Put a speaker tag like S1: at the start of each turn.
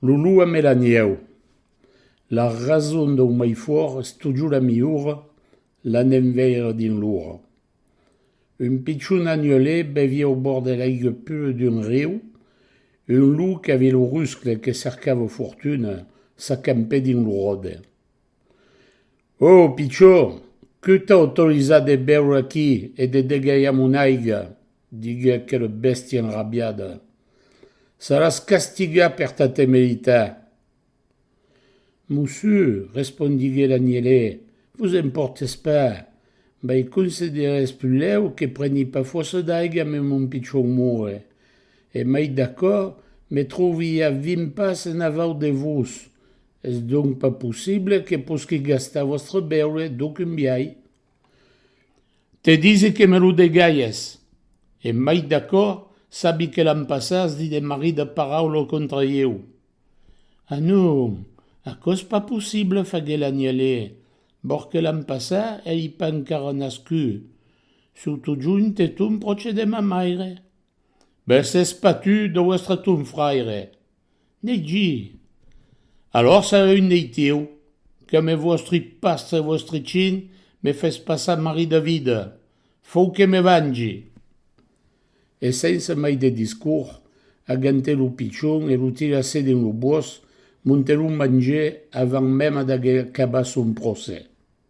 S1: Lulua me la nieu. La rason dau mai fòrt es totjor la miora, l'an enveire dins l'ora. Un pichon agnolé bevia au bòrd de l'aigue pura d'un riu, un lou qu'avia lo ruscle que cercava fortuna s'acampè dins lo ròde. Ò, pichor, que t'a autorizat de béuer aquí e de degalhar mon aiga? diguec aquela bèstia enrabiada. Saràs castigat per ta temeritat! Mossur, respondiguèt l'anielè, vos en pòrtes pas, mai considerètz pulèu que preni pas fòrça d'aiga me mon pichon moure, e mai d'acò, me trovi ja vint pas enavau de vos, Es donc pas possible que posqui gastar vòstre beure d'aucun biai. Te disi que me lo degalhes! E mai d'aquò, sabi que l'an passat as dit de marrit de paraula contra ieu. A non! Aquò es pas possible, faguèt l'anielé, vòr que l'an passat ei pas encara nascut, surtot junt e ton pròche de ma maire. Be s'es patut de vòstre ton fraire! Neitgi! Alòr sarè un neitieu, que me vòstri pastre vòstri chin me fes passar mari de vida, fou que me vangi! E sense mai de discours, agentè lo pichon e lo tirassè dins lo bòs, montè lo mangè avant mèma d'ager acabat son procès.